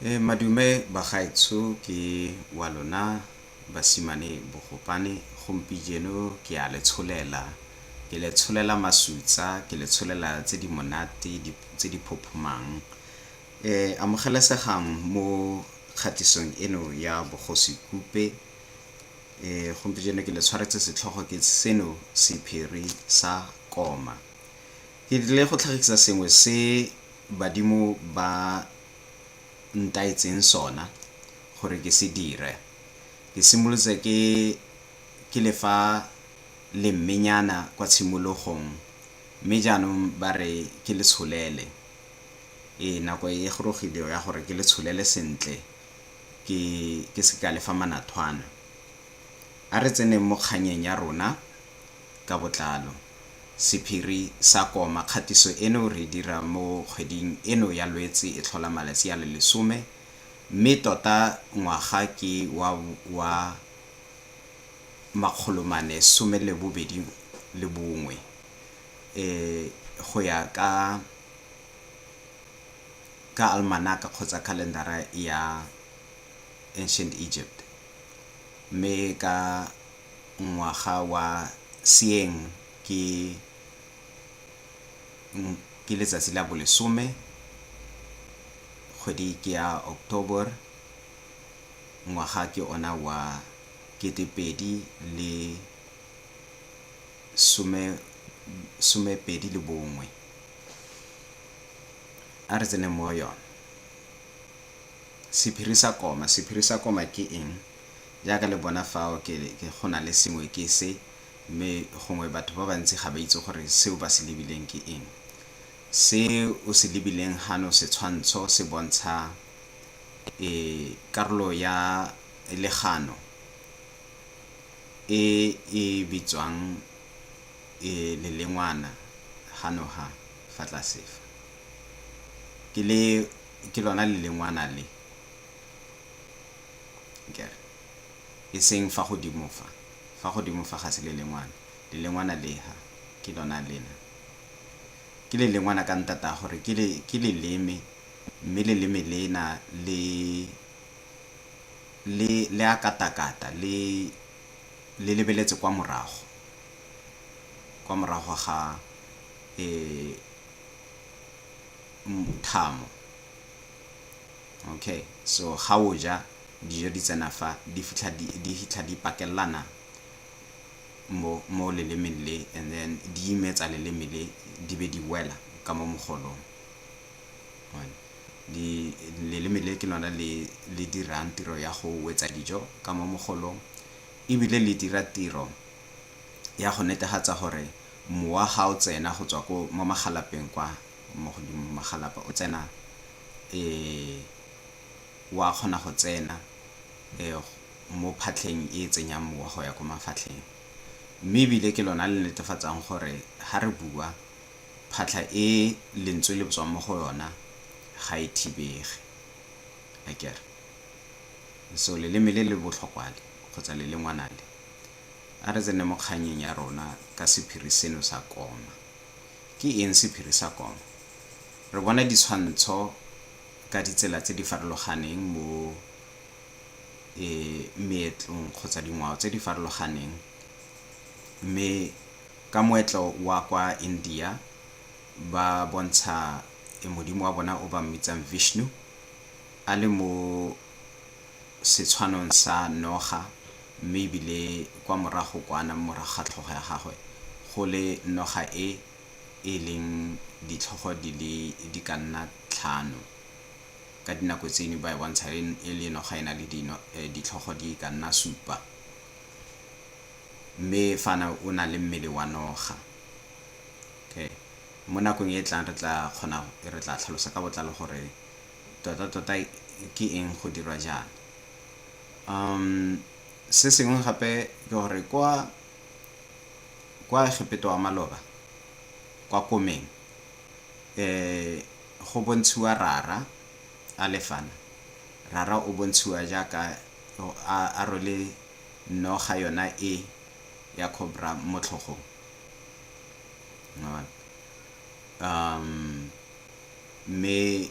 E madume bagaetsho ke wa lona basimane bogopane gompijeno ke a le tsholela ke le tsholela masutsa ke le tsholela tse di monate tse di phophomang amogelesegang mo kgatisong eno ya bogosi kope gompijeno ke le tshwaretse setlhogo ke seno sephiri sa koma. Ke tlile go tlhagisa sengwe se badimo ba ntaetseng sona gore ke se dire. Ke simolotse ke ke le fa lemmenyana kwa tshimologong mme jaanong ba re ke le tsholele. Ee, nako e gorogile ya gore ke le tsholele sentle ke ke se ka le fa manathwana. A re tseneng mo kgannyeng ya rona ka botlalo. Sephiri sa koma, kgatiso eno re e dira mo kgweding eno ya Lwetse e tlhola malatsi a le lesome, mme tota ngwaga ke wa wa makgolo mane some le bobedi le bongwe e go ya ka ka almanaka kgotsa khalendara ya Ancient Egypt, mme ka ngwaga wa seeng ke ke letsatsi la bolesome kgwedi ke ya October ngwaga ke ona wa kete pedi le some pedi le bongwe. A re tseneng mo go yone, sephiri sa koma, sephiri sa koma ke eng? Jaaka le bona fao, ke, ke, go na le sengwe ke se, mme gongwe batho ba bantsi ga ba itse gore seo ba se lebileng ke eng. Se o se lebileng hano, setshwantsho, se bontsha, e, karolo ya legano e e bitswang, e, lelengwana, gano ha, fa tlase fa. Ke le, ke lona lelengwana le. Kere, e seng fa godimo fa. Fa godimo fa ga se lelengwana. Lelengwana le ha, ke lona lena. Ke lelengwana ka ntata gore ke, ke leleme, mme leleme lena le, le, le a katakata, le, le lebeletse kwa morago, kwa morago ga, e, thamo. Okay so ga o ja dijo di tsena fa di fitlha di di fitlha di pakelelana mo mo lelemeng le and then di imetsa leleme le di be di wela ka mo mogolong di leleme le ke lona le le dirang tiro ya go wetsa dijo ka mo mogolong ebile le dira tiro ya go netefatsa gore mowa ga o tsena go tswa ko mo magalapeng kwa mo godimo magalapa o tsena wa kgona go tsena mo phatlheng e e tsenyang mowa go ya ko mafatlheng. Mme ebile ke lona le netefatsang gore ga re bua phatlha e lentswe le tswang mo go yona ga e thibege akere. So leleme le le botlhokwa le kgotsa lelengwana le, a re tsene mo kgannyeng ya rona ka sephiri seno sa koma. Ke eng sephiri sa kono? Re bona ditshwantsho ka ditsela tse di farologaneng mo meetlong kgotsa dingwao tse di farologaneng mme ka moetlo wa kwa India ba bontsha modimo wa bona o ba mmitsang Vishnu a le mo setshwanong sa noga, mme ebile kwa morago kwana mo morago ga tlhogo ya gagwe go le noga e e leng ditlhogo di le di ka nna tlhano. Ka dinako tse dingwe ba e bontsha e le noga e na le ditlhogo di ka nna supa. Mme fana o na le mmele wa noga. Mo nakong e e tlang re tla kgona, re tla tlhalosa ka botlalo gore Totatota ke eng go dirwa jaana? Um se sengwe gape ke gore kwa kwa Egepeto wa maloba kwa komeng eh go bontshiwa rara a lefana rara o bontshiwa jaaka a a rwele noga yona e ya cobra mo tlhogong um Mme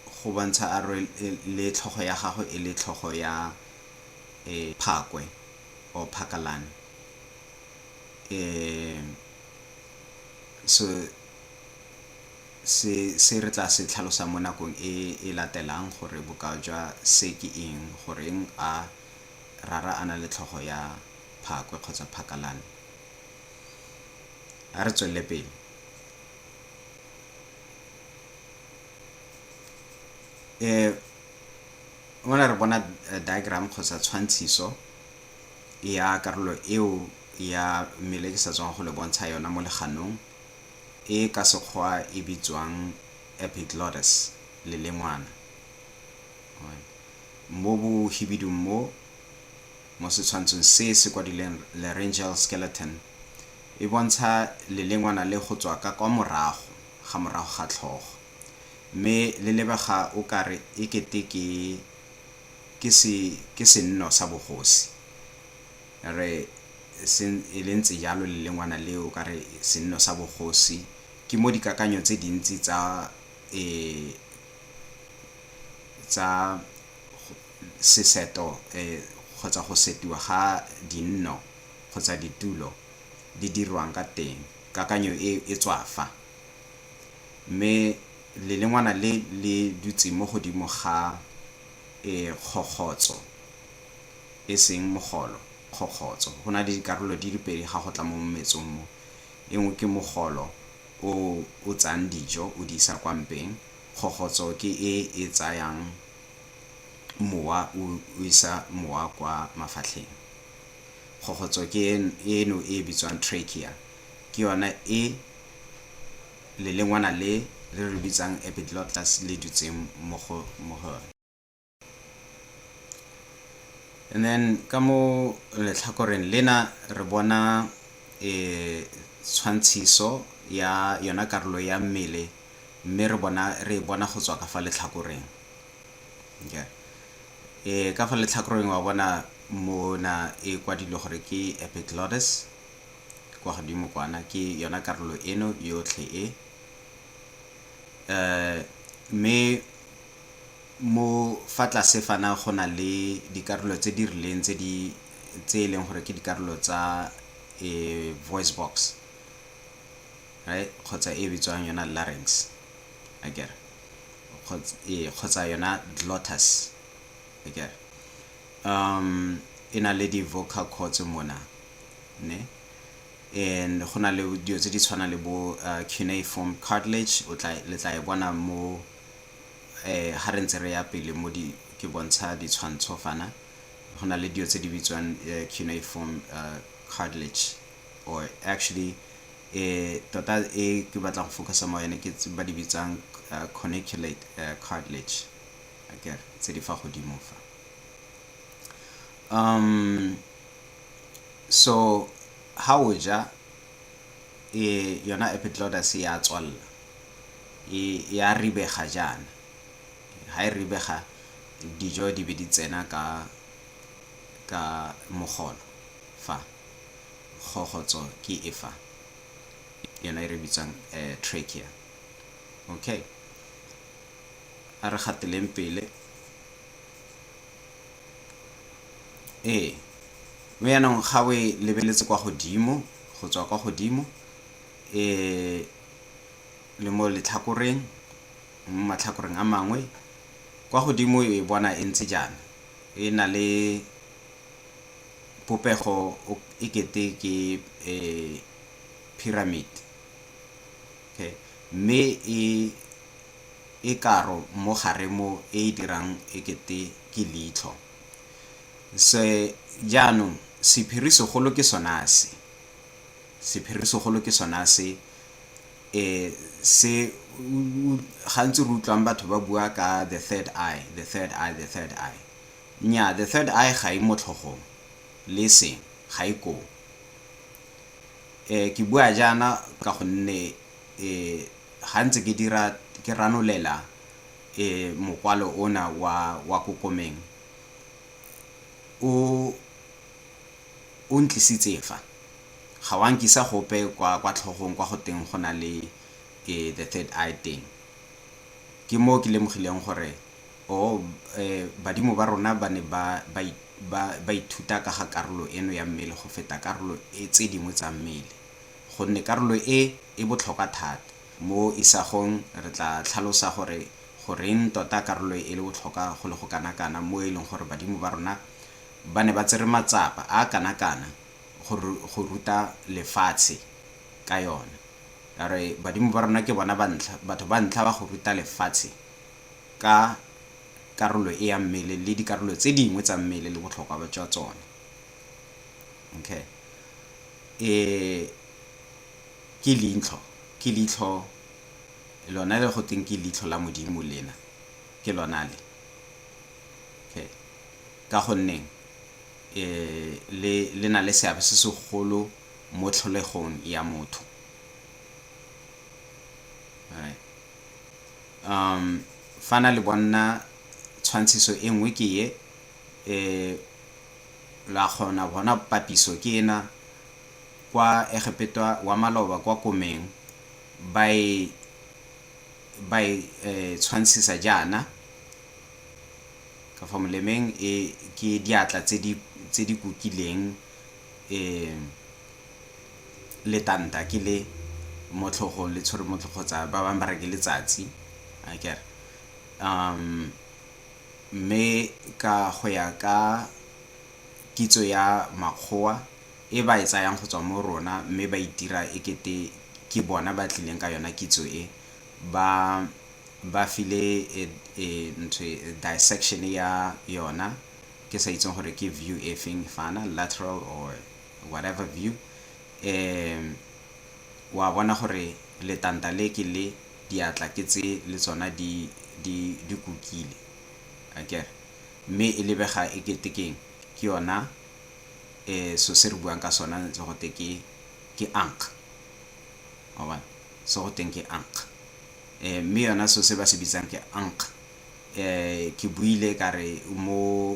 go bontsha a rwe le tlhogo ya gagwe e le tlhogo ya phakwe or phakalane. So se re tla se tlhalosang mo nakong e e latelang gore bokao jwa se ke eng, goreng a rara a na le tlhogo ya phakwe kgotsa phakalane. A re tswelele pele. um mona re bona diagram kgotsa tshwantshiso ya karolo eo ya mmele ke sa tswang go le bontsha yona mo leganong e ka sekgwa e bitswang epiglottis lelengwana mo bo hibidung mo mo setshwantshong se se kwadileng laryngeal skeleton E bontsha lelengwana le go tswa ka kwa morago ga morago ga tlhogo, mme le lebega o ka re e kete ke ke se ke senno sa bogosi. Re se e le ntse jalo lelengwana le o ka re senno sa bogosi ke mo dikakanyo tse dintsi tsa e tsa seseto kgotsa go setiwa ga dinno kgotsa ditulo di dirwang ka teng, kakanyo e e tswa fa. Mme lelengwana le le dutse mo godimo ga e kgokgotso, e seng mogolo, kgokgotso. Go na le dikarolo di le pedi ga go tla mo mmetsong mo. E nngwe ke mogolo o o tsayang dijo o di isa kwa mpeng, kgokgotso ke e e tsayang mowa o isa mowa kwa mafatlheng. Kgokgotso ke eno e e bitswang trachea, ke yona e lelengwana le re le bitsang epiglottis le dutseng mo go yone. And then ka mo letlhakoreng lena re bona tshwantshiso ya yona karolo ya mmele mme re e bona go tswa ka fa letlhakoreng. e ka fa letlhakoreng wa bona mona e kwadilwe gore ke epiglottis kwa godimo kwana ke yona karolo eno yotlhe e um mme mo fa tlase fana go na le dikarolo tse di rileng tse di tse e leng gore ke dikarolo tsa um voice box kgotsa e bitswang yona larynx akere kgotsa yona glottis akere um e na le di-vocal cords mona ne and go na le dilo tse di tshwana le bo uh, cuneiform cartilage o tla le tla e bona mo eh ha re ntse re ya pele mo di ke bontsha ditshwantsho fana go na le dilo tse di bitswang uh, cuneiform uh, cartilage or actually tota e ke batla go focusa mo yone ke ba di bitsang corniculate cartilage akere tse di fa godimo fa um so ha o ja e yona epiglottis ya tswalela e ya ribega jaana ha e ribega dijo di be di tsena ka ka mogolo fa kgokgotso ke e fa yona e re bitsang eh, trachea okay a re gateleng pele ee mme yaanong ga o e lebeletse kwa godimo go tswa kwa godimo um le mo letlhakoreng mo matlhakoreng a mangwe kwa godimo e bona e ntse jaana e na le Popego e kete ke pyramid, okay, mme e karo mo gare mo e e dirang e kete ke leitlho. Se jaanong sephiri segolo ke sona se, sephiri segolo ke sona se se gantsi re utlwang batho ba bua ka the third eye, the third eye, the third eye. Nnyaa, the third eye ga e mo tlhogong, le eseng, ga e koo. E, ke bua jaana ka gonne e, ga ntse ke dira, ke ranolela e, mokwalo ona wa, wa kokomeng, o, o ntlisitse fa. Ga wa nkisa gope kwa, kwa tlhogong kwa go teng go na le e, the third eye teng. Ke moo ke lemogileng gore. Oo, ee, badimo ba rona ba ne ba, ba, ba, ba ithuta ka ga karolo eno ya mmele go feta karolo e, tse dingwe tsa mmele, gonne karolo e e botlhokwa thata. Mo isagong re tla tlhalosa gore goreng tota karolo e e le botlhokwa go le go kanakana, mo e leng gore badimo ba rona ba ne ba tsere matsapa a a kanakana go, go ruta lefatshe ka yone. Re, badimo ba rona ke bona ba ntlha, batho ba ntlha ba go ruta lefatshe ka karolo e ya mmele le dikarolo tse dingwe tsa mmele le botlhokwa ba jwa tsone. Okay. E ke leitlho, ke leitlho lona le go teng ke leitlho la Modimo lena. Ke lona le. Okay. Ka gonne e le le na le seabe se segolo mo tlholegong ya motho. Alright. Um, fana le bonna tshwantshiso e nngwe ke ye, e, la kgona bona papiso ke ena, kwa Egepetwa wa maloba kwa komeng, ba e, ba e, e tshwantshisa jaana, ka fa molemeng e, ke diatla tse di, tse di kukileng, letanta ke le mo tlhogong le tshwere mo tlhogo kgotsa ba bangwe ba re ke letsatsi akere mme ka go ya ka kitso ya makgowa e ba e tsayang go tswa mo rona mme ba itira e kete ke bona ba tlileng ka yona kitso e ba file ntho e dissection ya yona. ke sa itseng gore ke view e feng fana lateral or whatever view um wa bona gore letanta le ke le diatla ke tse le tsona di di di kukile akere mme e lebega e kete keng ke yona eh so se re buang ka sona ntse go te ke ke ank wa bona so go teng ke ank eh mme yona so se ba se bitsang ke ank Ke buile ka re mo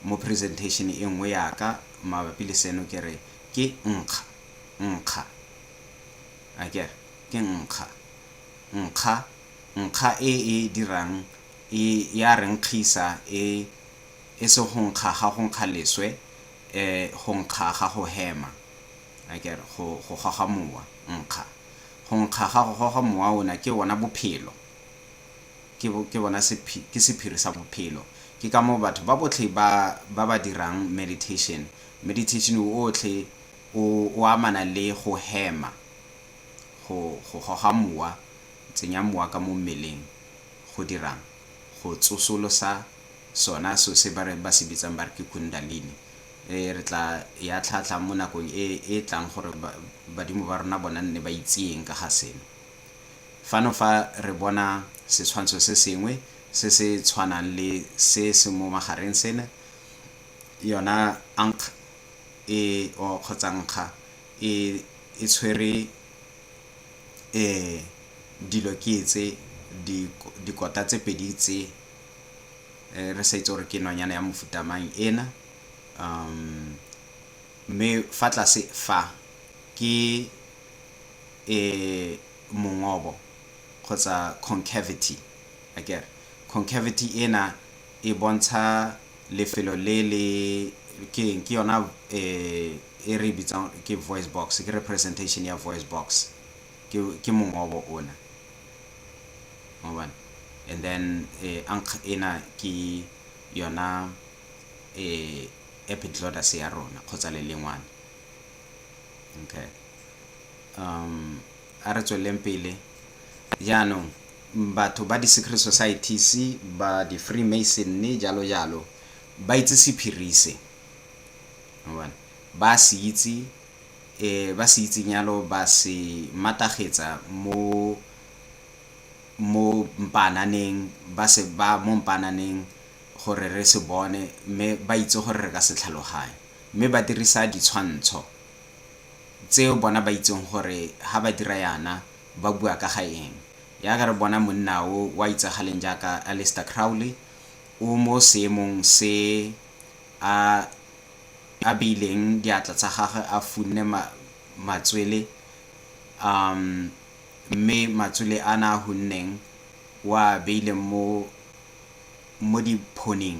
mo presentation e nngwe ya ka mabapi le seno ke re ke nkga, nkga. A ke re ke nkga, nkga, nkga e e dirang e ya re nkgisa e e se go nkga ga go nkga leswe go nkga ga go hema. A ke re go go goga mowa, nkga. Go nkga ga go goga mowa ona ke ona bophelo. ke, ke bona sephi, ke sephiri sa bophelo. Ke ka moo batho ba botlhe ba, ba ba dirang meditation, meditation otlhe o, o amana le go hema, go, go goga mowa, tsenya mowa ka mo mmeleng, go dirang? Go tsosolosa sona so se ba re, ba se bitsang ba re ke Kundalini. E, re tla e atlhaatlhang mo nakong e, e tlang gore ba, badimo ba rona bona nne ba itseeng ka ga seno. Fano fa re bona setshwantsho se sengwe se se tshwanang le se se mo magareng sena, yona ankh e o kgotsa nkga e e tshwere e dilo ke tse di dikota tse pedi tse re sa itse gore ke nonyane ya mofuta mang ena mme fa tlase fa ke e mongobo kgotsa concavity akere. Concavity ena e bontsha lefelo le le ke eng ke yona e re bitsang ke voice box ke representation ya voice box ke ke mongobo ona mobane and then eh, ankh ena ke yona eh, epiglottis ya rona kgotsa lelengwane Okay. Um, a re tsweleleng pele. Jaanong, batho ba di-secret societies, ba di-freemasonry, jalo jalo, ba itse sephiri se. Ba se itse, eh, ba se itseng yalo ba se matagetsa mo mo mpananeng ba se ba mo mpananeng gore re se bone mme ba itse gore re ka se tlhaloganye Mme ba dirisa ditshwantsho tseo bona ba itseng gore ha ba dira yana ba bua ka ga eng. Yaka re bona monna o wa itsagaleng jaaka Aleister Crowley o mo seemong se a a beileng diatla tsa gagwe a funne ma matswele um mme matswele a na a hunneng o a beileng mo mo diphoning.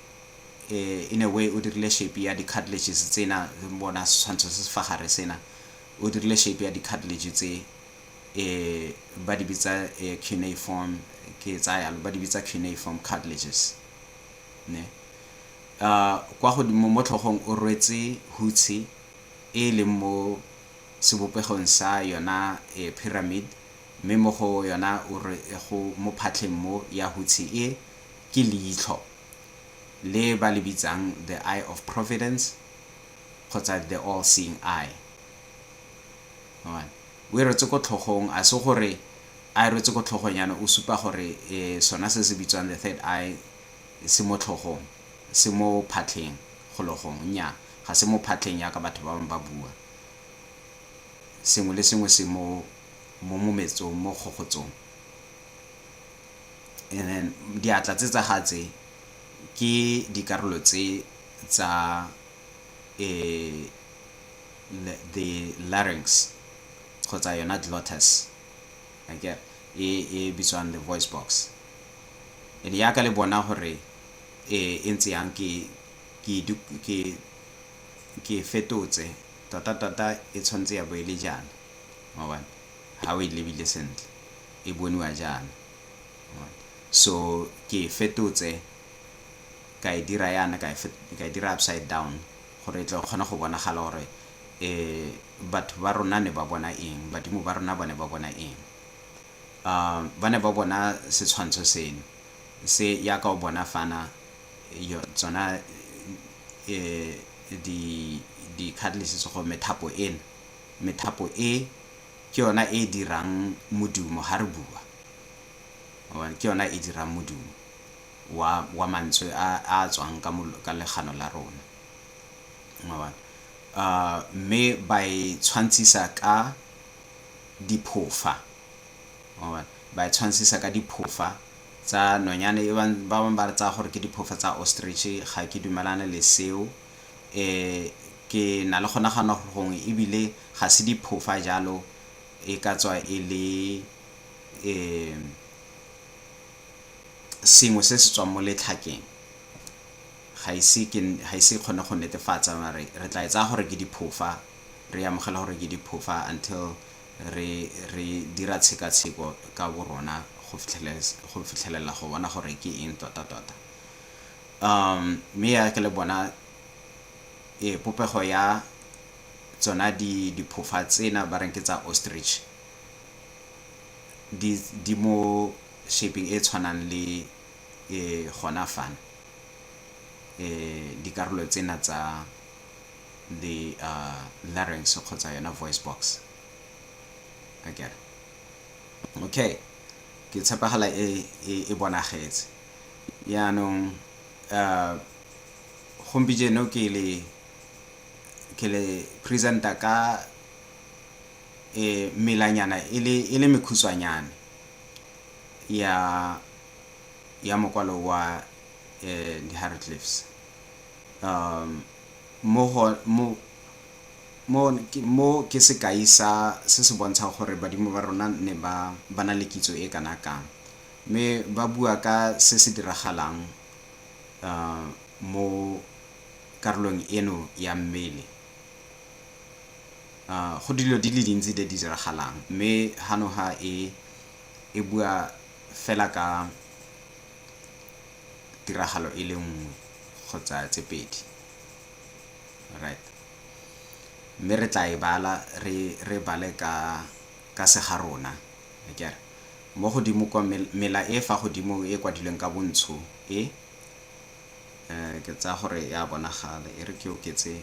eh, in a way o dirile shape ya di-cartilages tsena bona setshwantsho se se fa gare sena o dirile shape ya di-cartilage tse eh, ba di bitsa eh, cuneiform ke tsa yalo ba di bitsa cuneiform cartilages ne uh, kwa godimo mo tlhogong o rwetse hutshi e e leng mo sebopegong sa yona eh, pyramid mme mo go yona o re go mo phatlheng mo ya hutshi e ke leitlho le ba le bitsang the eye of providence kgotsa the all seeing eye. O e rwetse ko tlhogong, a se gore a e rwetse ko tlhogong yana o supa gore e sona se se bitswang the third eye se mo tlhogong, se mo phatlheng gologong, nnyaa ga se mo phatlheng yaka batho ba bangwe ba bua. Sengwe le sengwe se mo mometsong, mo kgogotsong. And then diatla tse tsa ga tse ke dikarolo tse tsa the larynx kgotsa yona glottis akere e bitswang the voice box. And yaka le bona gore e ntse yang ke fetotse tota-tota e tshwanetse ya bo e le jaana ga o e lebile sentle. e boniwa jaana. So ke e fetotse ka e dira yana ka e dira upside down gore e tle e kgone go bonagala gore batho ba rona ne ba bona eng, badimo ba rona ba ne ba bona eng. Ba ne ba bona setshwantsho seno se yaka o bona fana tsona di-cartilages go methapo ena, methapo e. Ke yona e e dirang modumo ha re bua. Ke yona e dirang modumo wa, wa mantswe a, a a tswang ka, ka legano la rona. Mme ba e tshwantshisa ka diphofa. Ba e tshwantshisa ka diphofa tsa nonyane e bang, ba bangwe ba re tsaya gore ke diphofa tsa ostrich. Ga ke dumalane le seo. ke na le go nagana gore gongwe ebile ga se diphofa jalo e ka tswa e le sengwe se se tswang mo letlhakeng ga ise ke ga ise e kgone go netefatsa mare re tla e tsaya gore ke diphofa re amogela gore ke diphofa until re re dira tshekatsheko ka bo rona go fitlhelela go bona gore ke eng tota tota. Um, mme ya ke le bona e popego ya tsona di diphofa tsena ba reng ke tsa ostrich di di mo shaping e tshwanang le e gona fana e dikarolo tsena tsa the uh, larynx kgotsa yona voice box akere okay ke tshepagala e e bonagetse Yaanong, a gompijeno ke le, ke le present-a ka e, melanyana e le, e le mekhutshwanyane ya, ya mokwalo wa e, di-hieroglyphs. A mo go, mo, mo, mo ke sekai sa, se se bontshang gore badimo ba rona ne ba, ba na le kitso e kana kang. Mme ba bua ka se se diragalang mo karolong eno ya mmele. Go dilo di le dintsi tse di diragalang mme hanoha e e bua fela ka tiragalo e le nngwe kgotsa tse pedi. Right. Mme re tla e bala re bale ka se ga rona akere. Mo godimo kwa, mela e fa godimo e e kwadilweng ka bontsho e, ke tsaya gore e a bonagala, e re ke oketse,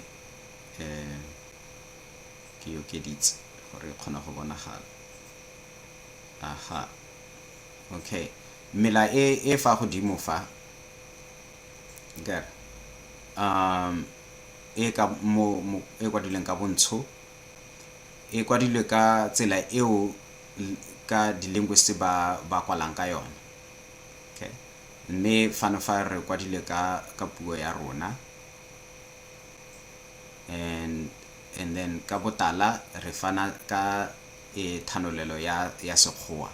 ke e okeditse gore e kgone go bonagala. Aha, okay. Mela e e fa godimo fa, akere, e ka mo, e kwadilweng ka bontsho e kwadilwe ka tsela eo. ka di-linguist ba ba kwalang ka yone okay mme fano fa re kwadile ka ka puo ya rona and and then ka botala re fana ka e thanolelo ya ya sekgowa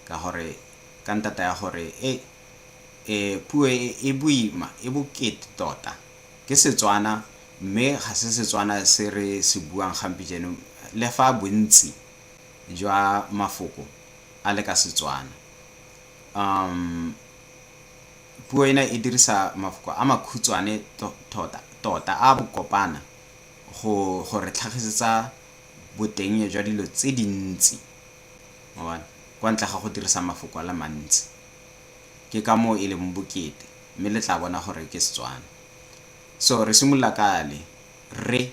ka gore ka ntata ya gore e e puo e, e boima e bokete tota ke Setswana mme ga se Setswana se re se buang gampi jeno le fa bontsi jwa mafoko a le ka Setswana. Um, puo ena e dirisa mafoko a makhutshwane tota, tota a bokopana go, go re tlhagisetsa boteng jwa dilo tse dintsi kwa ntle ga go dirisa mafoko a le mantsi ke ka moo e leng bokete mme le tla bona gore ke Setswana so re simolola ka le re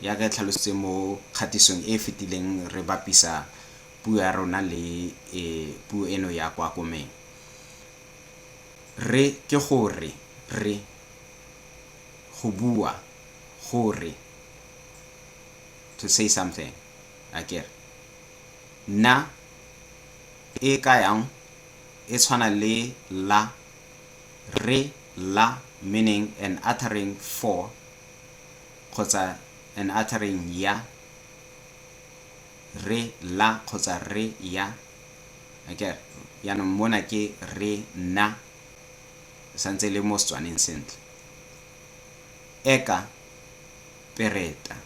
Ya ka e tlhalositse mo kgatisong e e fetileng re bapisa puo ya rona le e puo eno ya kwa Komeng. Re ke go re, re, go bua, go re, to say something, akere. Na e ka yang e tshwana le la, re, la, meaning an uttering for. kgotsa an uttering ya, re, la kgotsa re, ya. Akere? Jaanong mona ke re, na, santse le mo Setswaneng sentle. Eka pereta.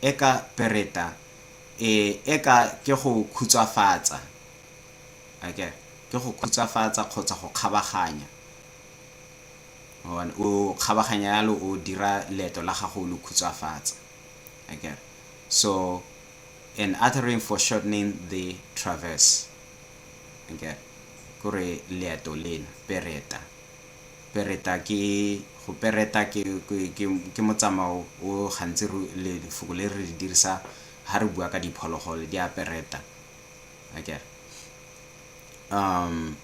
Eka pereta, e, eka ke go khutswafatsa. Akere? Ke go khutswafatsa kgotsa go kgabaganya. O kgabaganya yalo o dira leeto la gago o le khutshwafatsa. Akere? So, an uttering foreshortening the traverse. Akere? Kore leeto lena, pereta. Pereta ke, go pereta ke, ke, ke, ke motsamao o gantsi re, le, lefoko le re le dirisa ha re bua ka diphologolo, di a pereta. Akere? Um,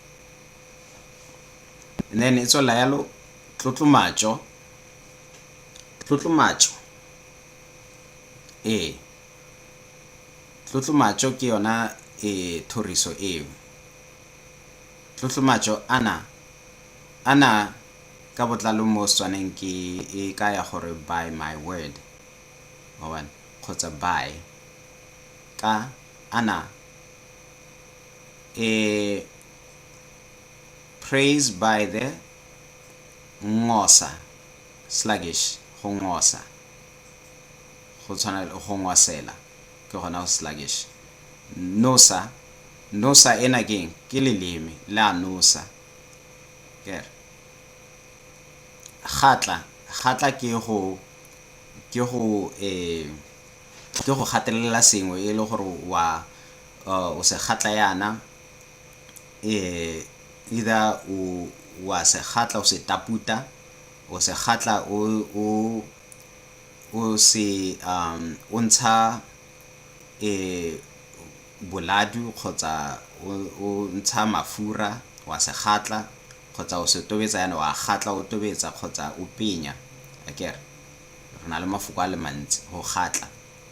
And then e tswela yalo tlotlomatso. Tlotlomatso. Ee. Tlotlomatso ke yona e thoriso eo. Tlotlomatso ana ana ka botlalo mo Setswaneng ke e kaya gore by my word. Mawani kgotsa by ka ana e Praise by the ngosa, sluggish, go ngosa, go tshwana le go ngwasela, ke gona go sluggish. Nosa, nosa ena ke eng? Ke leleme, le a nosa. Ker. Gatla, gatla ke go, ke go, eh, ke go gatelela sengwe e le gore wa, uh, o se gatla yana, eh, either o wa se gatla o se taputa o se gatla o o o se um o ntsha eh boladu kgotsa o ntsha mafura wa se gatla kgotsa o se tobetsa yana wa gatla o tobetsa kgotsa o penya akere re na le mafoko a le mantsi go gatla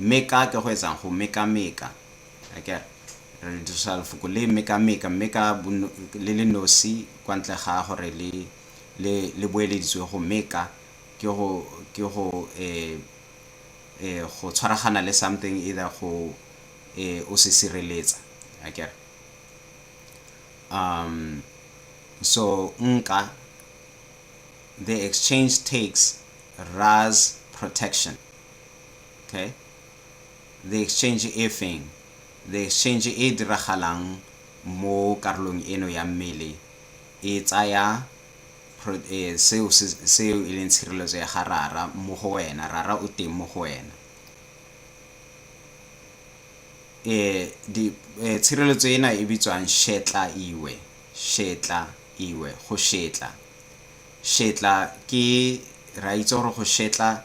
Meka ke go etsang? Go mekameka. Akere? Re le dirisa lefoko le mekameka, mme ka le le nosi kwa ntle ga gore le le le boeleditswe go meka ke go ke go e e go tshwaragana le something either go e o se sireletsa. Akere? Um so nka the exchange takes Rra's protection. Okay? The exchange e feng? The exchange e e diragalang mo karolong eno ya mmele e tsaya e, seo seo e leng tshireletso ya ga rara mo go wena rara o teng mo go wena eh di eh, tshireletso ena e bitswang shetla iwe shetla iwe go shetla shetla ke ra itse gore go shetla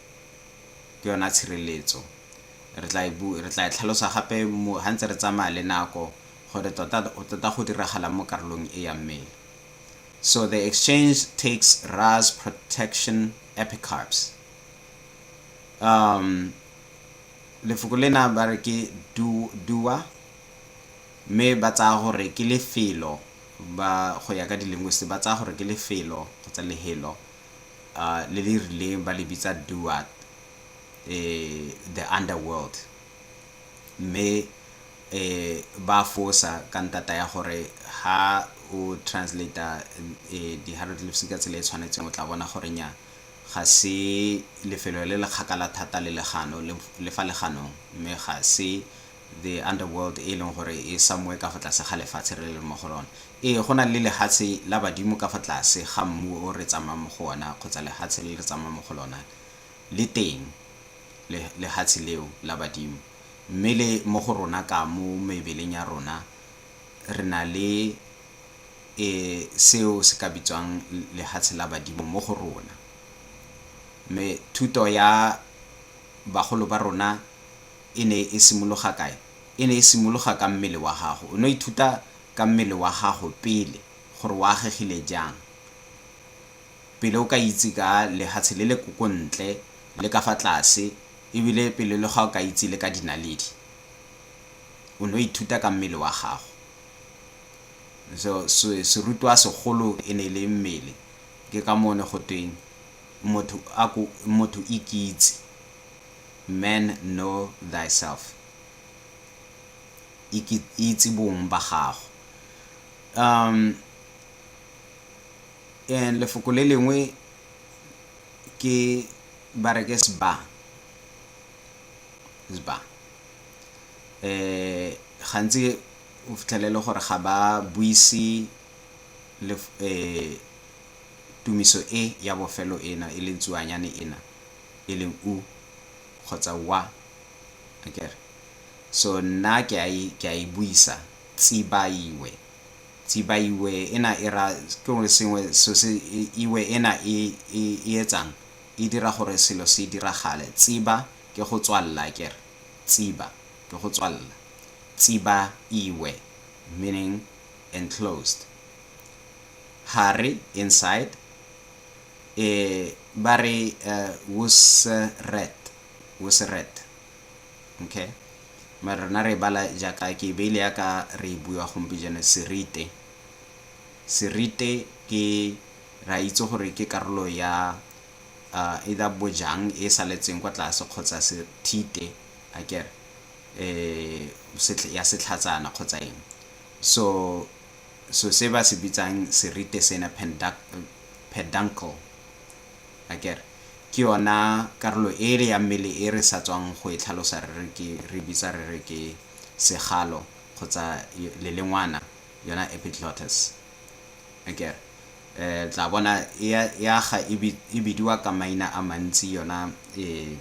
ke yona tshireletso. Re tla e re tla e tlhalosa gape ha ntse re tsamaya le nako gore tota tota go diragalang mo karolong e ya mmele. So the exchange takes Ra's protection epicarps. Um, lefoko lena ba re ke dua mme ba tsaya gore ke lefelo ba go ya ka di-linguist ba tsaya gore ke lefelo kgotsa lehelo le le rileng ba le bitsa Duat, the underworld, mme ba a fosa ka ntata ya gore ha o translate-a di hieroglyphs ka tsela e e tshwanetseng o tla bona gore nnyaa ga se lefelo le le kgakala thata le legano le fa leganong mme ga se The underworld e leng gore e samoe ka fa tlase ga lefatshe re leng mo go lone. Ee, go na le lehatshe la badimo ka fa tlase ga mmu o re tsamayang mo go ona kgotsa lehatshe le re tsamayang mo go lona. Le teng le, lehatshe leo la badimo. Mme le mo go rona ka mo mebeleng ya rona re na le e, seo se ka bitswang lehatshe la badimo mo go rona. Mme thuto ya bagolo ba rona, E ne e simologa kae? E ne e simologa ka mmele wa gago. O ne o ithuta ka mmele wa gago pele gore o agegile jang pele o ka itse ka lehatshe le le ko ntle le ka fa tlase ebile pele le ga o ka itse le ka dinaledi. O ne o ithuta ka mmele wa gago. So, serutwa segolo e ne e le mmele. Ke ka moo ne go tweng motho a ko, motho ikitse. Men know thyself. Ike, itse bong ba gago. Um, and lefoko le lengwe ke ba re ke sba sba eh gantsi o fitlhelele gore ga ba buise le eh tumiso e ya bofelo ena e leng tsuanyane ena e leng u kgotsa wa akere so nna ke a e ke a e buisa tsibaiwe tsibaiwe ena e ra ke gore sengwe so se iwe ena e e etsang e dira gore selo se diragale tsiba ke go tswalela akere tsiba ke go tswalela tsiba iwe meaning enclosed hare inside e ba re uh, wusret wusret okay mara rona re bala jaaka ke beile ya ka re e bua gompieno serite serite ke ra itse gore ke karolo ya uh, either bojang e saletseng kwa tlase kgotsa sethite a kere eh ya setlhatsana kgotsa eng so so se ba se bitsang serite sena peduncle, akere? Ke yona karolo ele ya mmele e re sa tswang go e tlhalosa re re ke, re e bitsa re re ke segalo kgotsa lelengwana, yona epiglottis, akere? Um, le tla bona e a, e aga e bi, e bidiwa ka maina a mantsi yona um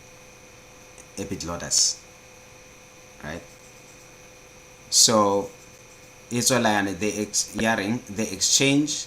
epiglottis, right? So, e tswela yana, the ex, ya reng, the exchange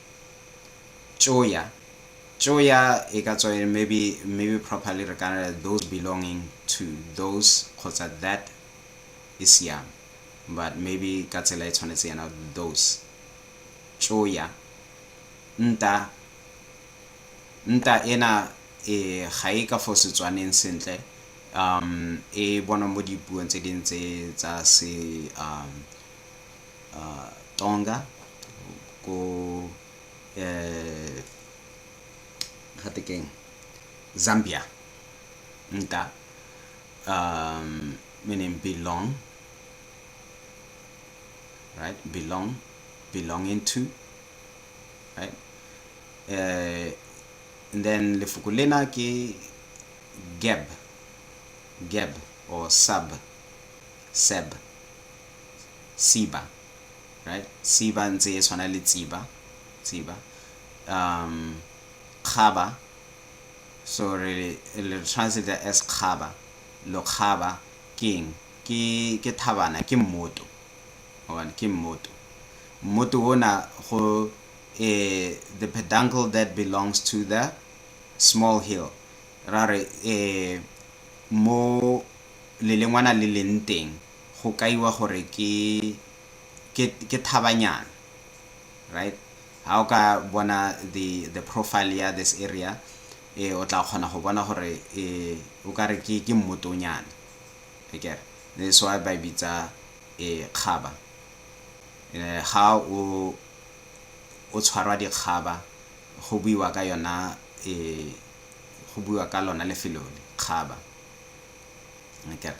tšoya, tšoya e ka tswa e re maybe, maybe properly re ka re those belonging to, those kgotsa that e siame but maybe ka tsela e tshwanetse yana those, tšoya, nta, nta ena e ga e ka fo Setswaneng sentle um e bonwa mo dipuong tse dingwe tse tsa se um uh, Tonga ko eh gate keng Zambia nka um meaning belong right belong belong into right uh, and then lefoko lena ke gab gab or sub seb siba right siba ntse e tshwana le tsiba tsiba um kgaba so re le translate as kgaba lo kgaba keng ke ke thabana ke mmoto one ke mmoto mmoto ona go eh the peduncle that belongs to the small hill ra re eh mo lelengwana le leng teng go kaiwa gore ke ke ke thabanyana right ha o ka bona the the profile ya this area eh o tla kgona go bona gore eh o ka re ke ke mmotonyana ekere this why ba bitsa eh kgaba eh ga o o tshwarwa dikgaba go buiwa ka yona eh go buiwa ka lona lefelo le kgaba ekere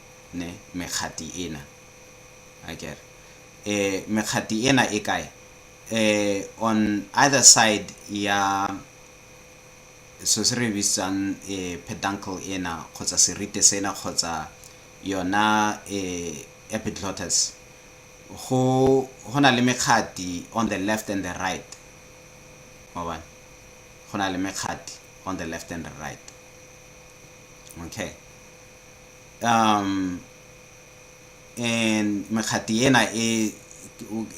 ne mekgati ena akere um mekgati ena e kae um on either side ya so se re bitsang um peduncle ena kgotsa serite sena kgotsa yona um epiglottis go na le mekgati on the left and the right wa bona go na le mekgati on the left and the right okay mekgati ena e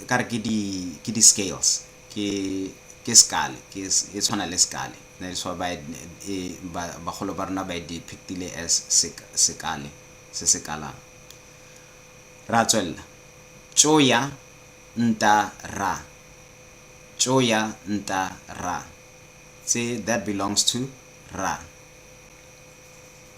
ka re ke di scales, ke skull e tshwana le skull that is why bagolo ba rona ba e depict-ile as sekull se se kalang. Re a tswelela, tšoya nta rra, tšoya nta rra, that belongs to rra.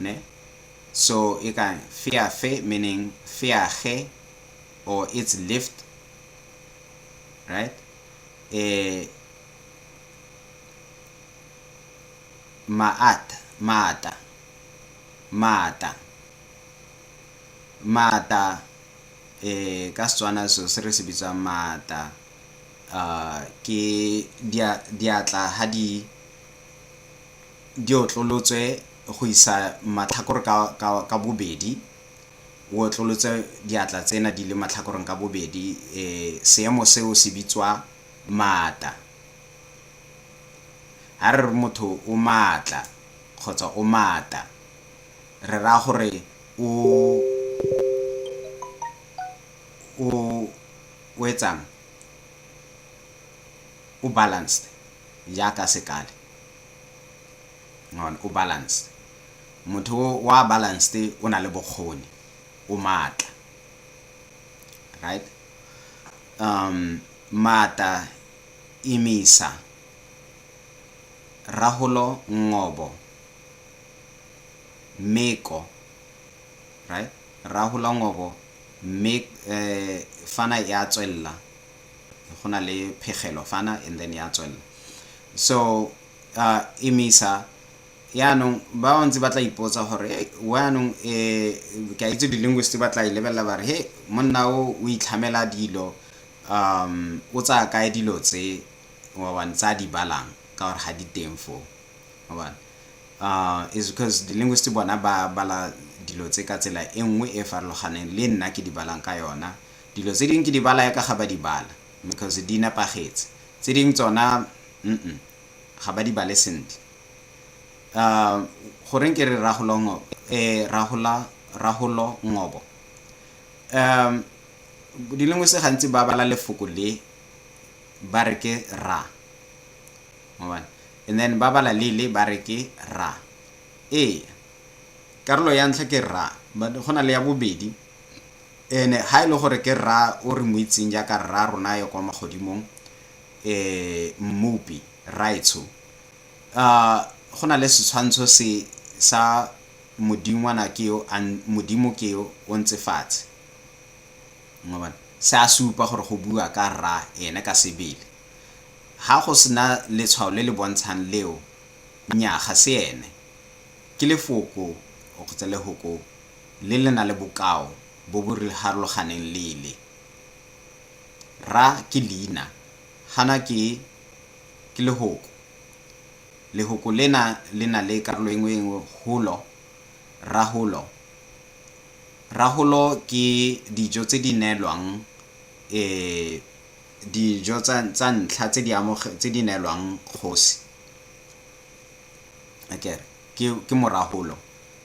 Ne? So e ka feafe meaning feage or it's lift. Right? Eh, maata, maata, maata. Maata eh ka Setswana so se re se bitswang maata uh ke diatla ha di di otlolotswe go isa matlhakore ka bobedi, o otlolotse diatla tsena di le matlhakoreng ka bobedi, seemo seo se bitswa maata. Ha re re motho o maatla kgotsa o maata, re raya gore o etsang, o balanced jaaka sekale. o balanced. Motho o a balanced o na le bokgoni, o maatla. Right? Um, maata, imisa, raholo, ngobo, meko. Right? Raholo, ngobo, mek, eh, fana ya tswella. go na le phegelo fana and then ya tswelela so uh, emisa yaanong ba bantsi ba tla ipotsa gore hey, yaanong um eh, ke a itse di-linguist ba tla e lebelela ba re he monna o o itlhamela dilo um o tsaya kae dilo tse obane tsa di balang ka gore ga di teng foo obane uh, is because di-linguist bona ba bala dilo tse ka tsela e nngwe e farologaneng le nna ke di balang ka yona Dilo tse ding ke di bala yaka ga ba di bala because di nepagetse. Tse ding tsona umm ga ba di bale sentle. Umm goreng ke re Rragolo Ngobo eh Rragola Rragolo Ngobo umm dilengwese gantsi ba bala lefoko le ba re ke ra mobane and then ba bala le le ba re ke ra ee karolo ya ntlha ke ra but go na le ya bobedi Ene, ga e le gore ke Rra o re mo itseng jaaka Rra rona yo kwa magodimong, e, Mmopi, Rraetsho. A, go na le setshwantsho se, sa Modingwana ke yo a, Modimo ke yo o ntse fatshe. Mwa bona? Se a supa gore go bua ka Rra Ene ka sebele. Ga go se na letshwao le le bontshang leo, nnyaa, ga se Ene. Ke Lefoko, kgotsa Lehoko. le le na le bokao bo bo rharologaneng lele. Ra ke leina, gana ke ke lehoko. Lehoko lena le na le karolo engwe engwe holo, raholo. Raholo ke dijo tse di neelwang dijo tsa tsa ntlha tse di tse di neelwang kgosi, akere ke ke moraholo.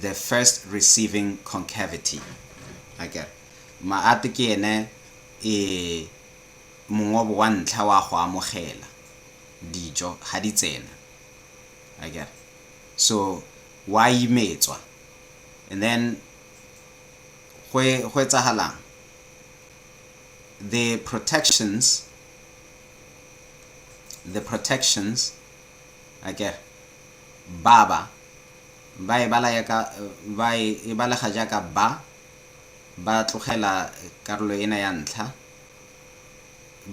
the first receiving concavity a kere maate ke ene e mongobo wa ntlha wa go amogela dijo ga di tsena a kere so wa imetswa and then go etsagalang the protections the protections A ke re, Baba, ba e bala yaka, ba e, e balega jaaka ba, ba tlogela karolo ena ya ntlha,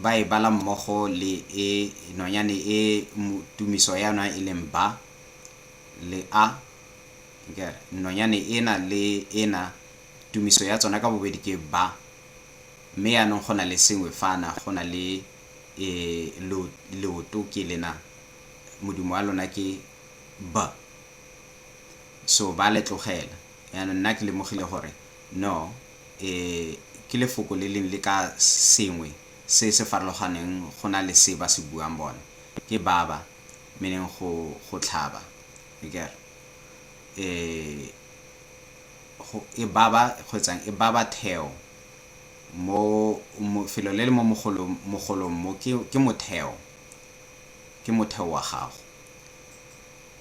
ba e bala mmogo le e, nonyane e mo, tumiso ya yona e leng ba, le a. A ke re, nonyane ena le ena, tumiso ya tsona ka bobedi ke ba. Mme yaanong go na le sengwe fana, go na le. e lo leoto ke lena modimo wa lona ke b so ba le tlogela yana nna ke lemogile gore no e ke lefoko le leng le ka sengwe se se farologaneng go na le se ba se buang bona ke baba meaning go go tlhaba ikere e go e baba go etsang e baba theo mo felo le le mo mogolong mo ke motheo, ke motheo wa gago.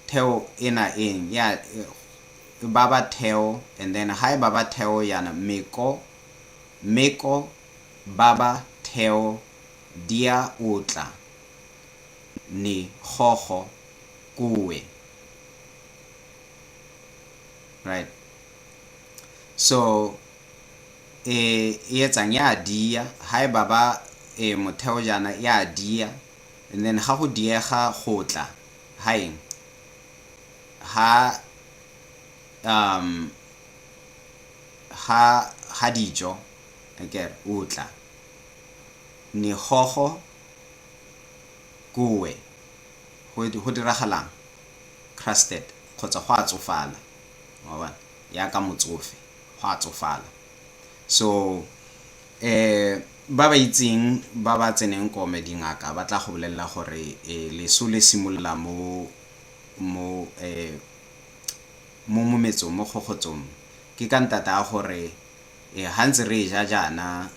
Theo e na eng ya e baba theo and then ha e baba theo yana meko meko baba theo dia otla ni gogo kuwe right so e e etsang ya dia ha e baba e motheo jaana ya dia and then ga go diega go tla ha eng ha um ha ha dijo akere o tla negogo kowe go diragalang crusted kgotsa go a tsofala wa bona yaka motsofe go a tsofala so ba ba itseng ba ba tseneng kome dingaka ba tla go bolelela gore leso le simolola mo mo mo mometsong mo gogotsong ke ka ntata ya gore ga ntse re e ja jaana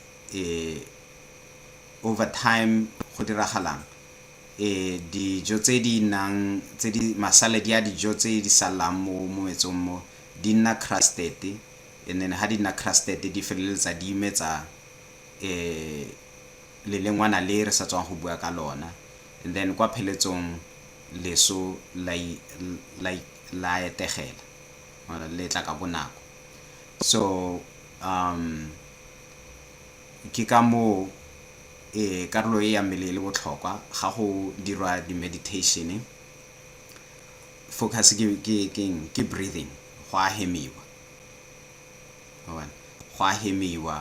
over time go diragalang dijo tse di nang tse di masaladi a dijo tse di salang mo mometsong mo di nna crusted and then ha di nna crusted di feleletsa di imetsa lelengwana le re sa tswang go bua ka lona and then kwa pheletsong leso la etegela or le tla ka bonako so um ke ka moo karolo e ya mmele e le botlhokwa ga go dirwa di-meditation Focus ke ke ke eng? Ke breathing. Go a hemiwa. Wa bona? Go a hemiwa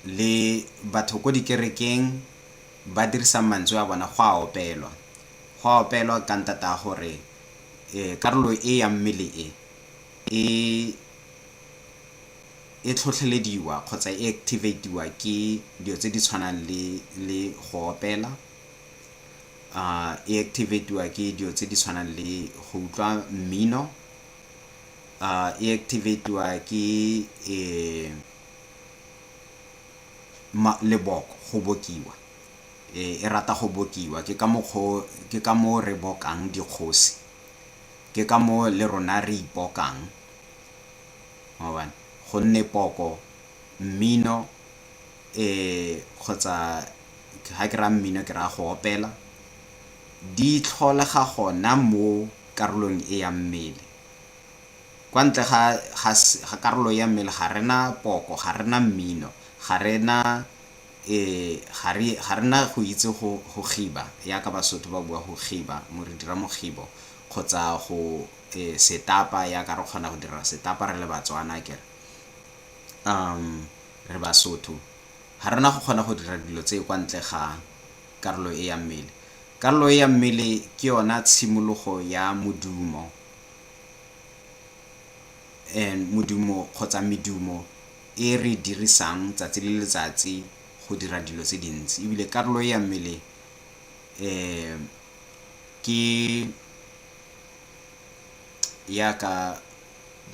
le batho ko dikerekeng ba dirisa mantswe a bona go a opelwa. Go a opelwa ka ntata a gore karolo e ya mmele e e e tlhotlhelediwa kgotsa e activate-iwa ke dilo tse di tshwanang le le go opela. e activate-iwa ke dilo tse di tshwanang le go utlwa mmino, e activate-iwa ke leboko, go bokiwa. E rata go bokiwa, ke ka mokgwa o, ke ka moo re bokang dikgosi, ke ka moo le rona re ipokang, wa bona, gonne poko, mmino kgotsa ga ke raya mmino ke raya go opela, di tlholega gona mo karolong e ya mmele. Kwa ntle ga ga karolo ya mmele ga re na poko, ga re na mmino, ga re na ga re na go itse go kgiba yaka Basotho ba bua go kgiba, re dira mokgibo kgotsa go setapa yaka re kgona go dira setapa re le Batswana akere, re Basotho. Ga re na go kgona go dira dilo tse kwa ntle ga karolo e ya mmele. Karolo e ya mmele ke yona tshimologo ya modumo and modumo kgotsa medumo e re e dirisang tsatsi le letsatsi go dira dilo tse dintsi ebile karolo e ya mmele um ke yaka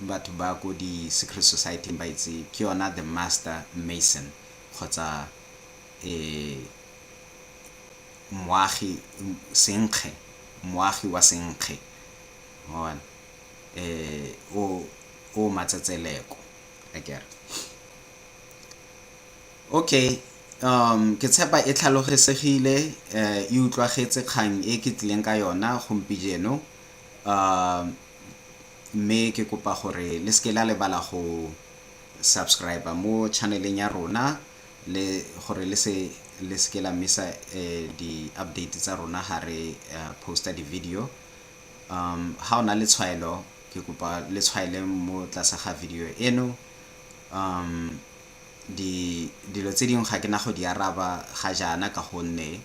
batho ba ko di secret society-ing ba itse ke yona the master mason kgotsa moagi senkge moagi wa senkge wa bona o o matsatseleko akere okay ke tshepa e tlhalogesegile e utlwagetse kgang e ke tlileng ka yona gompijeno Mme ke kopa gore le seke la lebala go subscriber mo channel-eng ya rona le gore le se le seke la misa di-update tsa rona ga re poster di-video. Ga o na le tshwaelo ke kopa le tshwaele mo tlase ga video eno. Dilo tse dingwe ga ke na go di araba ga jaana ka gonne.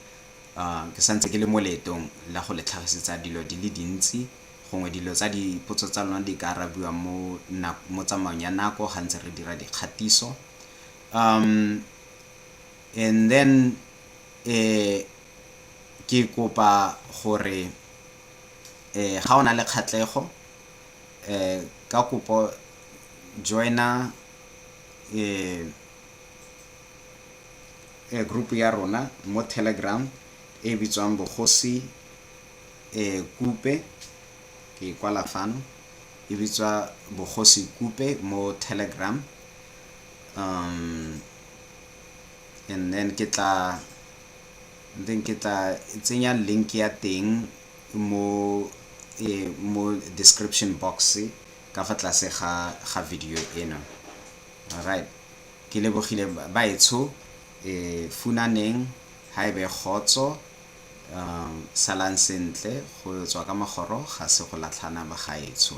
Ke sa ntse ke le mo leetong la go le tlhagisetsa dilo di le dintsi, gongwe dilo tsa dipotso tsa lona di ka arabiwa mo mo tsamaong ya nako ga ntse re dira dikgatiso. And then ke kopa gore ga o na le kgatlhego ka kopo join-a . Group ya rona mo Telegram e bitswang Bogosi Kupe ke e kwala fano e bitswa Bogosi Kupe mo Telegram and then ke tla then ke tla tsenya link ya teng mo mo description box ka fa tlase ga ga video ena alright Ke lebogile baetsho e funaneng ha ebe kgotso salang sentle go tswa ka magoro ga se go latlhana bagaetsho.